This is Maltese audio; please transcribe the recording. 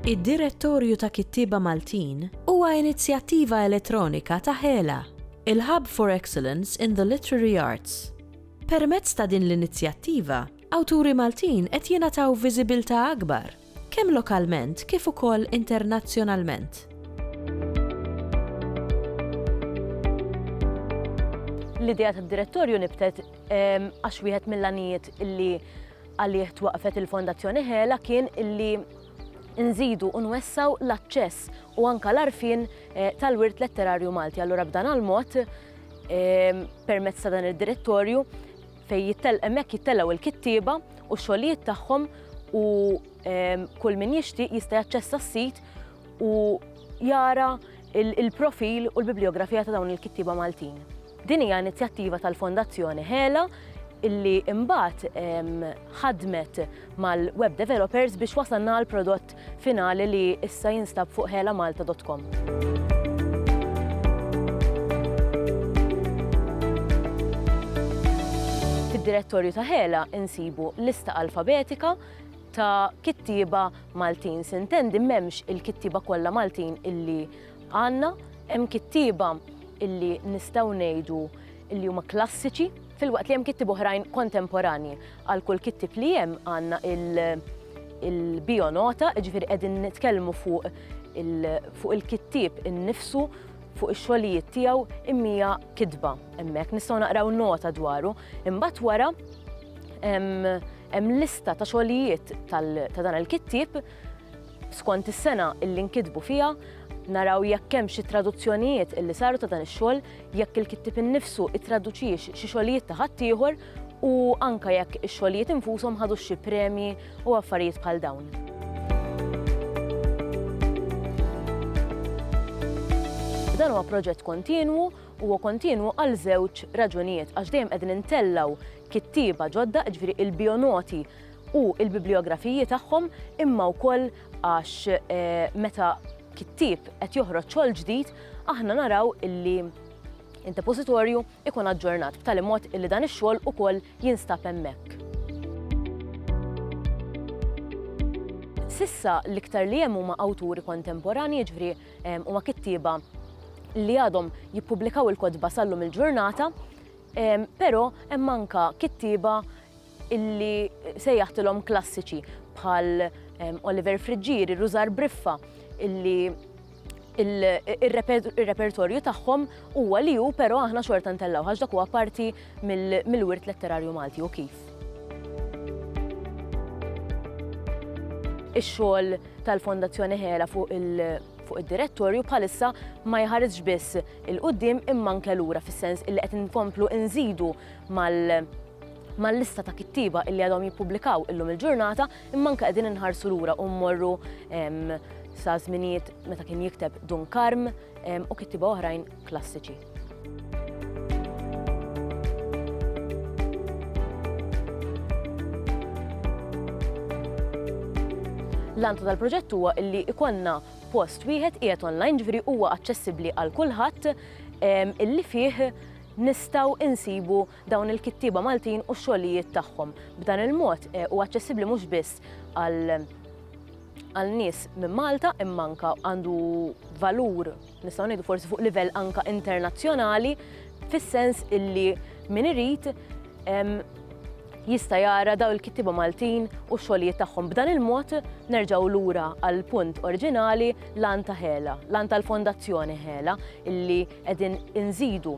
Id-Direttorju ta' Kittieba Maltin huwa inizjattiva elettronika ta' Hela, il-Hub for Excellence in the Literary Arts. Permezz ta' din l-inizjattiva, Awturi Maltin qed jingħataw viżibilità akbar, kemm lokalment kif ukoll internazzjonalment. L-idea tad-Direttorju nibtet għax wieħed mill-għanijiet illi għalih twaqqfet il-Fondazzjoni Hela kien illi nżidu u nwessaw l-aċċess u anka l-arfin eh, tal-wirt letterarju Malti. Allura b'dan għal-mod permezz ta' dan id-direttorju fejn jittel hemmhekk jittelgħu l-kittieba u x-xogħlijiet tagħhom u ehm, kull min jixtieq jista' jaċċessa s-sit u jara il-profil u l-bibliografija ta' dawn il-kittieba Maltin. Din hija inizjattiva tal-Fondazzjoni Hela illi imbagħad ehm, ħadmet mal-web developers biex wasalna għal prodott finali li issa jinstab fuq helamalta.com. Fid-direttorju ta' Hela insibu lista alfabetika ta' kittieba Maltin. Sintendi m'hemmx il-kittieba kollha Maltin illi għandna, hemm kittieba illi nistgħu ngħidu illi huma klassiċi Filwaqt li hemm kittieb oħrajn kontemporanji. Għal kull kittieb li hemm għandna il-bionota, ġifieri qegħdin nitkellmu fuq il-kittieb innifsu, fuq ix-xogħlijiet tiegħu imija kitba hemmhekk. Nistgħu naqraw nota dwaru. Imbagħad wara hemm lista ta' xogħlijiet ta' dan il-kittieb skont is-sena illi nkitbu fiha, naraw jekk hemm xi traduzzjonijiet illi saru ta' dan ix-xogħol, jekk il-kittieb innifsu ittraduċiex xi xogħlijiet ta' ħaddieħor u anke jekk ix-xogħlijiet infushom ħadux xi premji u affarijiet bħal dawn. Dan huwa proġett kontinwu u huwa kontinwu għal żewġ raġunijiet għax dejjem qegħdin intellgħu kittieba ġodda, ġifieri il-bionoti u l-bibliografiji tagħhom imma wkoll Għax meta kittieb qed joħroġ xogħol ġdid, aħna naraw illi d-depożitorju ikun aġġornat b'tali mod illi dan ix-xogħol ukoll jinstab hemmhekk. S'issa l-iktar li hemm huma awturi kontemporanji, jiġifieri huma kittieba li għadhom jippubblikaw il-kotba sal-lum il-ġurnata, però hemm anke kittieba illi sejjaħtilhom klassiċi bħal Oliver Friġġieri, Rużar Briffa, illi il-repertorju tagħhom huwa li hu però aħna xorta ntellaw għax dak huwa parti mill-wirt letterarju Malti u kif. Ix-xogħol tal-Fondazzjoni Ħela fuq id-direttorju bħalissa ma jħarisx biss il-qudiem imma anke lura fis-sens illi qed inkomplu nżidu mal- mal-lista ta' kittieba illi għadhom jippubblikaw illum il-ġurnata, imma anke qegħdin inħarsu lura u mmorru sa' żminijiet meta kien jikteb Dun Karm u kittieba oħrajn klassiċi. L-għantu tal-proġett huwa illi ikonna post wieħed qiegħed online ġifieri huwa aċċessibbli għal kulħadd illi fih nistgħu insibu dawn il-kittieba Maltin u x-xogħlijiet tagħhom. B'dan il-mod eh, huwa aċċessibbli mhux biss għal għal nies minn Malta imma anka għandu valur nistgħu ngħidu forsi fuq livell anka internazzjonali fis-sens illi min irid jista' jara daw il-kittiba Maltin u xogħlijiet tagħhom. B'dan il-mod nerġgħu lura għal punt oriġinali l-anta ħela, l-anta l-fondazzjoni ħela illi qegħdin inżidu